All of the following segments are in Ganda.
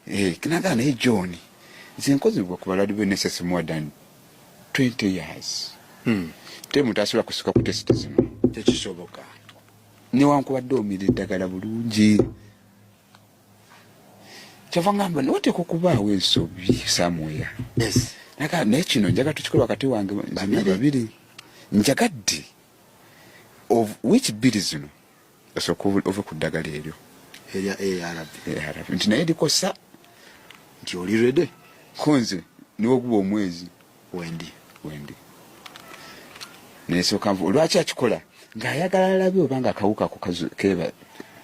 Eh, kinaga naye john nze nkozibwa ku baladi be nss more than 20 years hmm. te muntu asobola kusika ku test zino tekisoboka newankubadde omira eddagala bulungi kyava ngamba noteeka okubaawo ensobi samweya naye kino njaga tukikola wakati wange babiri njagadde of which biri zino Osooka ove ku ddagala eryo erya ARV ARV nti naye likosa nti oli rede konze niwoguba omwezi wendi wendi nesooka nvu lwaki akikola ng'ayagala alabe oba nga akawuka ako keba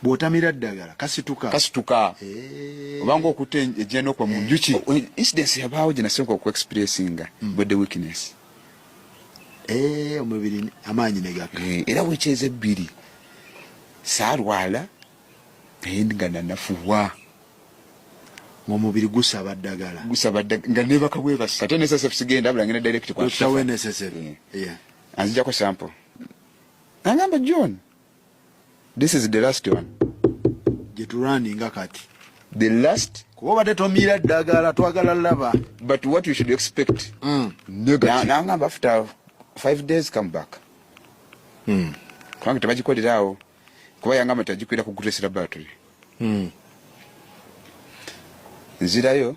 bwotamira ddagala kasituka kasituka eh. obanga okutta ejjana okwa mu njuki eh. incidence yabaawo gye nasooka okuexperiesinga mm. body weakness eh, omubiri amaanyi negaka eh, era wekyeza ebbiri saalwala naye nga nanafuwa ng'omubiri gusaba ddagala gusaba ddagala nga nebaka bwebasi ate nsf sigenda abula ngenda direct kwa nsf eh. anzijako sample angamba john this is the last one gyetulwaninga kati the last kuba obadde tomiira ddagala twagala laba but what you should expect mm. nangamba after five days come back mm. kubanga tebagikolerawo kuba yangamba teagikwira kugutesera battery mm. nzirayo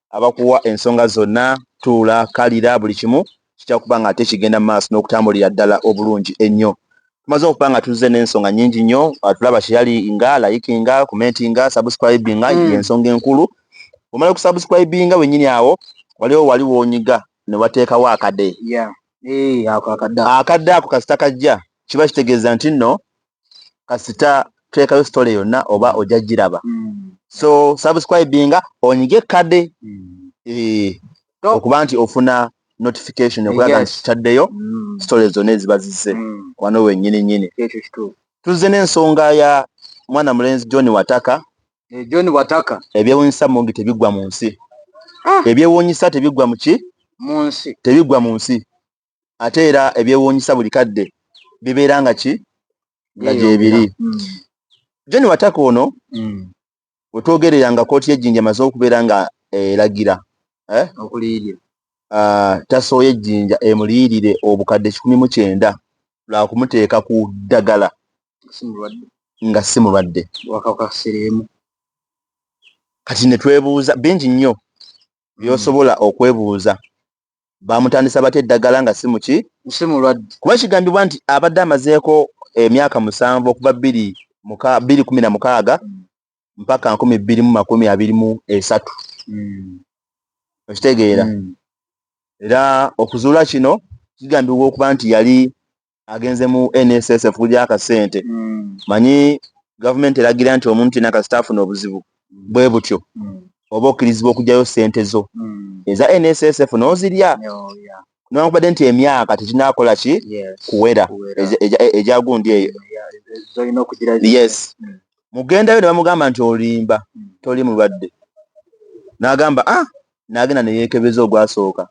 abakuwa ensonga zonna tuula kalira buli kimu kijja kuba nga ate kigenda mu maaso n'okutambulira ddala obulungi ennyo tumaze okuba nga tuzze n'ensonga nnyingi nnyo atulaba kyeyali nga layikinga kumenti nga sabusikrayibi nga mm. ensonga enkulu omala okusabusirayibi nga wennyini awo waliwo wali wonyiga ne wateekawo akade akadde ako kasita kajja kiba kitegeeza nti nno kasita twekayo story yonna oba ojja giraba mm. so subscribinga onyige kade mm. eh, okuba nti ofuna notification okulaga nti kitaddeyo mm. story zonna eziba zizze mm. wano wenyini nyini tuzze n'ensonga ya mwana mulenzi john wataka eh, john wataka ebyewunyisa mungi tebiggwa mu nsi ah. ebyewunyisa tebiggwa muki mu nsi tebiggwa mu nsi ate era ebyewuunyisa buli kadde bibeera nga ki nga gyebiri hmm. john wataka ono hmm. wetwogerera nga kooti yejjinja emaze okubeera nga eragira eh? ah, tasooye ejjinja emuliyirire obukadde kikumi mu kyenda lwakumuteeka ku ddagala nga si mulwadde kati netwebuuza bingi nnyo byosobola okwebuuza bamutandisa bata eddagala nga simuki si mulwadde kuba kigambibwa nti abadde amazeeko emyaka musanvu okuva bbiri bbiri kumi na mukaaga hmm. mpaka nkumi bbiri mu makumi abiri mu esatu hmm. okitegeera hmm. era okuzuula kino kigambibwa okuba nti yali agenze mu nssf kulya akasente mm. manyi gavumenti eragira nti omuntu yena kasita afuna obuzibu mm. bwe butyo mm. oba okkirizibwa okugyayo sente zo mm. eza nssf nozirya oh, yeah. newakubadde nti emyaka tekinakola ki kuwera egyagundi eyo yes mm. mugendayo ne bamugamba nti olimba mm. toli mulwadde nagamba ah n'agenda ne yeekebeza ogwasooka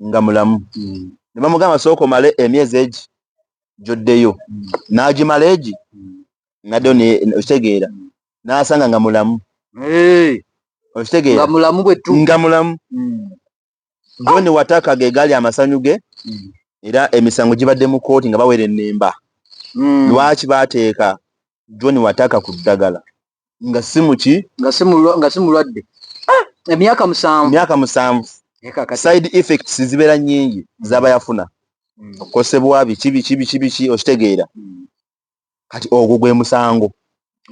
nga mulamu mm. ne bamugamba sooka omale emyezi egi gyoddeyo mm. n'agimala egi mm. naddeyo okitegeera n'asanga nga mulamu okitegeera nga mulamu john wataka ge gaali amasanyu ge era emisango gibadde mu kkooti nga bawera ennemba lwaki baateeka john wataka ku ddagala nga si muki nga si mulwa- nga si mulwadde Ah, emyaka musanvu myaka musanvu Naye kakati side effects zibeera nyingi zaba yafuna Mm. okukosebwa biki biki biki biki okitegeera Mm. kati ogwo gwe musango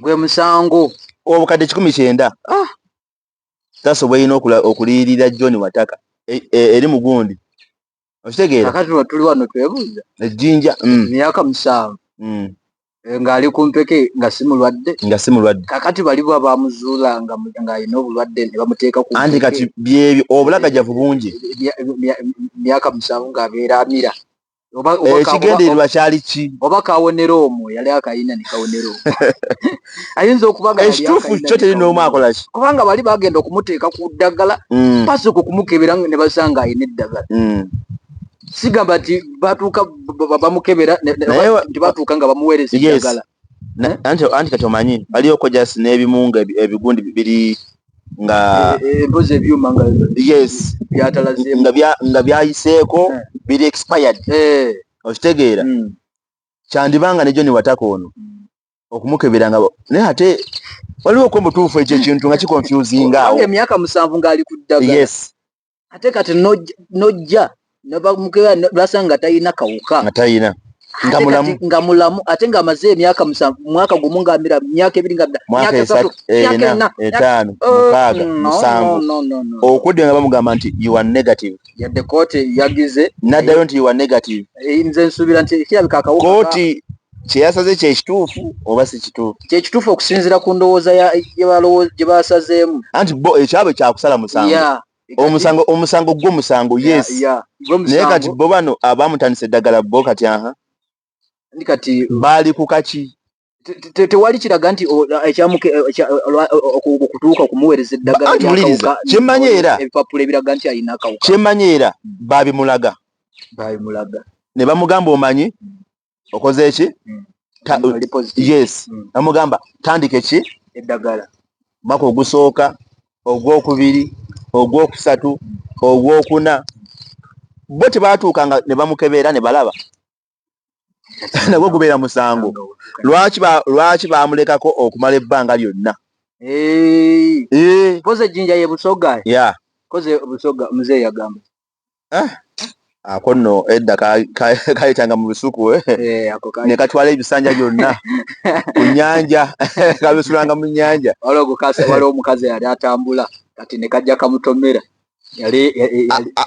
gwe musango obukadde kikumi kyenda Ah. tasobola ina okuliyirira john wataka e- e- eri mugundi okitegeera kakati lwe tuli wano twebuuza ejjinja mm. myaka musanvu mm. eh, ng'ali ku mpeke nga si mulwadde nga si mulwadde kakati bali bwa bamuzuula ng'alina obulwadde ne bamuteeka ku anti kati byebyo obulagajavu bungi myaka musanvu ng'abeera amira ekigendererwa kyali ki oba kawonera omwo yali akayina ne kawonera omwo ayinza okuba nga ekituufu kyo teri n'omu akola ki kubanga bali bagenda okumuteeka ku ddagala mm. pasoko okumukebera ne basanga alina eddagala mm. sigamba nti batuuka bamukebera nti batuuka nga bamuweereza eddagala eh? anti kati omanyi baliyo kojasi n'ebimu nga ebigundi biri nga eh, eh, embozi ebyuma nga yes nga byayiseeko biri expired okitegeera mm. kyandiba nga ne joni wataka ono mm. okumukebera nga naye ate waliwo okuba mutuufu ekyo ekintu nga kikonfusinga awo emyaka musanvu ng'ali ku ddagala yes ate kati nojja nebamukebera lwasanga nga talina kawuka nga talina nga mulamu nga mulamu ate nga amaze emyaka musanvu mwaka gumu nga mira myaka ebiri nga mira mwaka esatu eh, myaka ena etano oh, mukaga musanvu okudde nga bamugamba nti you are negative yadde kote yagize nadayo nti you are negative eh, nze nsubira nti kirabika akawuka koti kyeyasaze kyekituufu oba si kituufu kyekituufu okusinzira ku ndowooza gye basazeemu anti bo ekyabwe kyakusala musango omusango omusango gwo musango yes naye kati bo bano abamutandisa eddagala bo kati aha kati baali ku kaki tewali kiraga nti okutuuka okumuweereza eddagalakyemmanyi era ebipapula ebiraga nti alina akawuka kyemmanyi era babimulaga babimulaga ne bamugamba omanyi okoze eki mm. yes mm. namugamba tandika eki eddagala maka ogusooka ogwokubiri ogwokusatu ogwokuna bo tebatuuka nga ne bamukebeera ne balaba nagwo gubeera musango lwaki bamulekako okumala ebbanga lyonna eh. koze ejjinja ye busoga ya koze busoga mzee yagamba ah. ako nno edda kayitanga mu lusuku eh? Eh, ne katwala ebisanja byonna ku nnyanja kabisulanga mu nnyanja waliwo omukazi yali atambula kati ne kajja kamutomera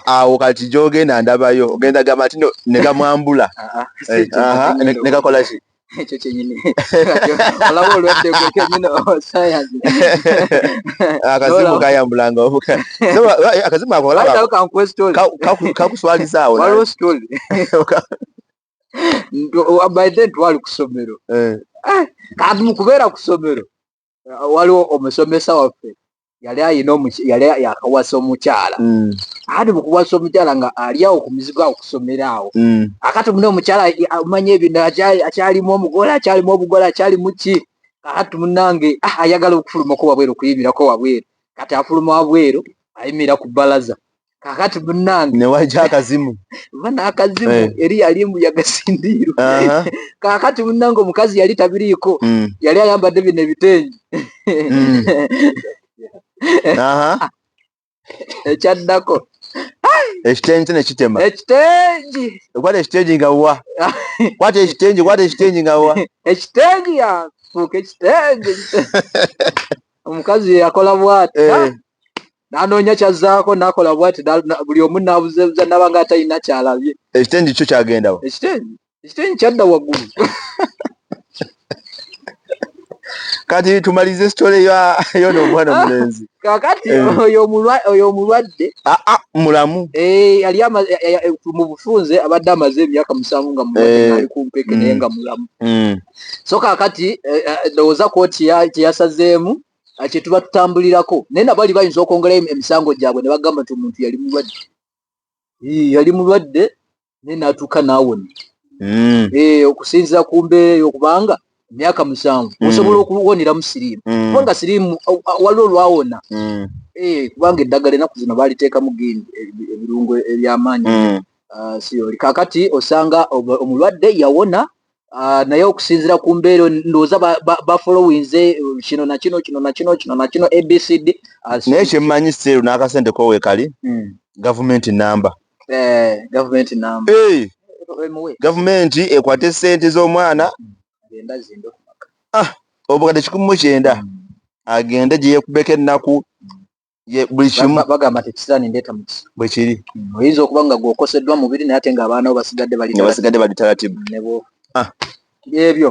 awo kati gyogenda ndabayo ogenda gamba nti negamwambula ah, ah. eh, nekakolaki ekyo kyenyini olaba olwadde gwe kenyini osayansi akazimu kayambulanga obuka akazimu ako kakuswalizaawo waliwo story by then twali ku ssomero eh. eh, kati mu kubeera ku ssomero waliwo omusomesa waffe yali ayina yali yakawasa omukyala mm. ati mukuwasa omukyala nga ali awo ku mizigo awo kusomera awo mm. akati mune omukyala amanya ebintu akyalimu omugole akyalimu obugole akyalimu ki kati munange ah, ayagala okufulumako wabweru okuyimirako wabweru kati afuluma wabweru ayimira ku balaza kakati munange newaja akazimu bana akazimu hey. Eh. eri yali mbu yagasindiirwa uh -huh. kakati munange omukazi yali tabiriiko mm. yali ayambadde bino ebitengi mm. uh -huh. ekyaddako ekitengi nekitema ekitengi kwata ekitengi nga wa kwata ekitengi kwata ekitengi nga wa ekitengi yafuuka ekitengi omukazi yakola bwati eh. nanoonya kyazzaako nakola bwati buli omu nabuzebuza naba nga atalina kyalabye ekitengi kyo kyagendawo ekitengi ekitengi kyadda waggulu kati tumalize sitole yona omwana omulenzi kakati eh. oyo omulwadde ah, ah, mulamu eh, ali eh, mu bufunze abadde amaze emyaka musanvu nga muali ku mpeke naye mm. nga mulamu mm. so kakati ndowooza koti kyeyasazeemu kyetuba tutambulirako naye nabo ali bayinza okwongerayo emisango gyabwe ne bagamba nti omuntu yali mulwadde yali mulwadde naye natuuka naawona hmm. eh, okusinzira ku mbeera eyo kubanga emyaka musanvu hmm. osobola okuwoneramu siriimu hmm. kubanga siriimu waliwo olwawona eh, kubanga eddagala enaku zino baaliteekamu gini ebirungo ebyamaanyi ah, kakati osanga omulwadde yawona Ah, naye okusinzira ku mbeera ndowooza bafolowinze eh, kino nakino kino nakino kino nakino abcd naye kyemmanyi seeru n'akasente kowekali hmm. gavumenti namba eh, gavumenti namba gavumenti ekwata esente z'omwana hmm. ah, obukadde kikumu kyenda hmm. agende gye yekubeko ennaku buli kimu bagamba nti ekisiraani ndeeta mukisa bwe kiri mm, oyinza okuba nga gwokoseddwa mubiri naye ate nga abaana bo basigadde bali basigadde bali talatibu ah. ebyo